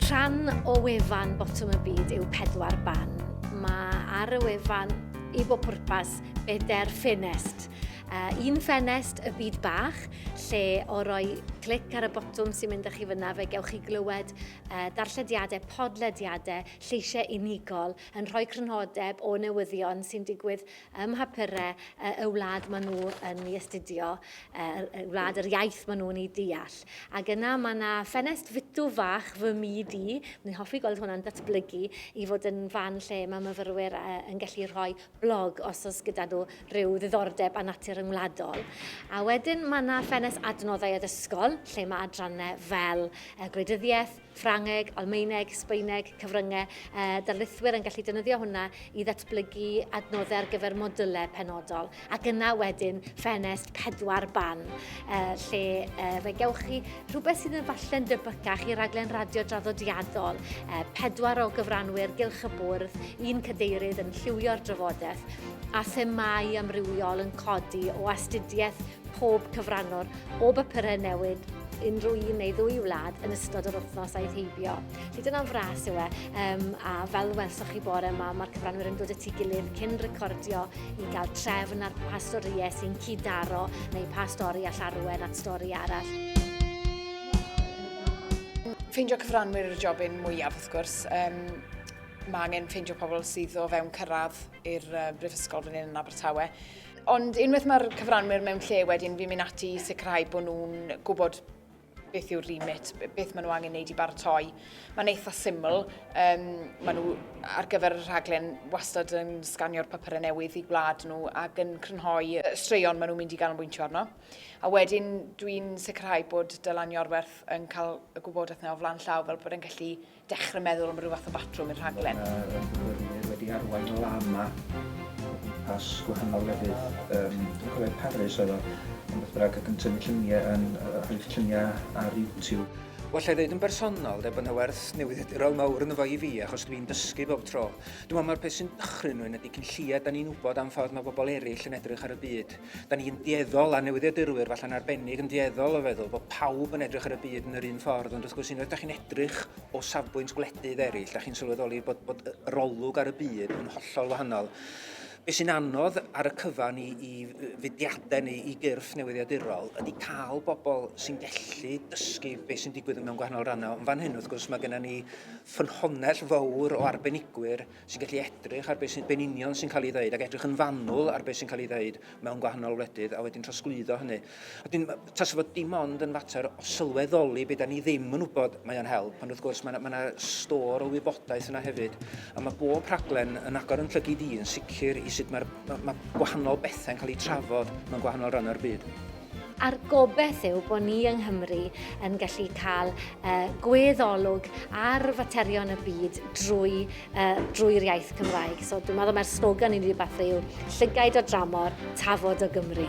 Rhan o wefan Botwm y Byd yw pedwar ban. Mae ar y wefan i bob pwrpas bedair ffenest. Uh, un ffenest y byd bach, lle o roi clic ar y botwm sy'n mynd â chi fyna, fe gewch chi glywed uh, darllediadau, podlediadau, lleisiau unigol, yn rhoi crynodeb o newyddion sy'n digwydd ym mhapurau y wlad maen nhw yn ei astudio, y wlad yr iaith maen nhw'n ei deall. Ac yna mae yna ffenest fitw fach fy myd i, ni'n hoffi gweld hwnna'n datblygu i fod yn fan lle mae myfyrwyr yn gallu rhoi blog os oes gyda nhw rhyw ddiddordeb a natur yngwladol. A wedyn mae yna ffenest adnoddau addysgol lle mae adrannau fel gwleidyddiaeth, Ffrangeg, Almaeneg, Sbaeneg, cyfryngau, a darlithwyr yn gallu defnyddio hwnna i ddatblygu adnoddau ar gyfer modylau penodol. Ac yna wedyn ffenest pedwar ban, lle fe gewch chi rhywbeth sydd yn falle'n debycach i raglen radio draddodiadol, pedwar o gyfranwyr gylch y bwrdd, un cadeirydd yn lliwio'r drafodaeth, a themâu amrywiol yn codi o astudiaeth pob cyfranwr o bapurau newid unrhyw un neu ddwy wlad yn ystod yr wythnos aeth heibio. Felly dyna'n fras yw e. Um, a fel welsoch chi bore yma, mae'r cyfranwyr yn dod y tu gilydd cyn recordio i gael trefn ar pa storïau sy'n cyd-daro neu pa stori all arwen at stori arall. Ffeindio cyfranwyr yw'r jobyn mwyaf, wrth gwrs. Um, mae angen ffeindio pobl sydd o fewn cyrraedd i'r uh, brifysgol fan hyn yn Abertawe. Ond unwaith mae'r cyfranwyr mewn lle wedyn, fi'n mynd ati i sicrhau bod nhw'n gwybod beth yw'r remit, beth maen nhw angen wneud i baratoi. Mae'n eitha syml. Um, maen nhw ar gyfer y rhaglen wastad yn sganio'r papurau newydd i gwlad nhw ac yn crynhoi y straeon maen nhw'n mynd i gael yn bwyntio arno. A wedyn dwi'n sicrhau bod Dylan Iorwerth yn cael y gwybodaeth yna o flan llaw fel bod e'n gallu Dechrau meddwl am ryw fath o batrwm i'r rhaglen. Mae y myfyrwyr wedi arwain lama o gwmpas gwahanol lefydd, yym dwi'n cofio Paris oedd o, ond beth bynnag, ac yn tynnu lluniau, yn rhoi'r lluniau ar YouTube. Wel, alla i ddeud yn bersonol de, bod yna werth newyddiadurol mawr ynddo fo i fi, achos dwi'n dysgu bob tro. Dwi'n meddwl mai'r peth sy'n dychryn rhywun ydy cyn lleied 'dan ni'n wybod am ffordd mae pobl eraill yn edrych ar y byd. Da ni'n dueddol, a newyddiadurwyr falle'n arbennig, yn dueddol o feddwl bod pawb yn edrych ar y byd yn yr un ffordd, ond wrth gwrs unwaith da chi'n edrych o safbwynt gwledydd eraill, da chi'n sylweddoli bod, bod yr olwg ar y byd yn hollol wahanol. Be sy'n anodd ar y cyfan i, i fudiadau neu i gyrff newyddiadurol ydy cael bobl sy'n gallu dysgu beth sy'n digwydd mewn gwahanol rannau. Ond fan hyn, wrth gwrs, mae gennym ni ffynhonnell fawr o arbenigwyr sy'n gallu edrych ar beth sy'n be'n union sy'n cael ei ddeud ac edrych yn fanwl ar beth sy'n cael ei ddeud mewn gwahanol wledydd a wedyn trosglwyddo hynny. A dyn, tas fod dim ond yn fater o sylweddoli beth da ni ddim yn wybod mae o'n help, ond wrth gwrs mae yna, mae yna stor o wybodaeth yna hefyd, a mae bob rhaglen yn agor yn llygyd i yn sicr i sut mae'r, mae, mae gwahanol bethau'n cael eu trafod mewn gwahanol rhan o'r byd. a'r gobeith yw bod ni yng Nghymru yn gallu cael uh, gweddolwg ar faterion y byd drwy, uh, drwy'r iaith Cymraeg. So dwi'n meddwl mae'r slogan i ni wedi bathu yw llygaid o dramor, tafod o Gymru.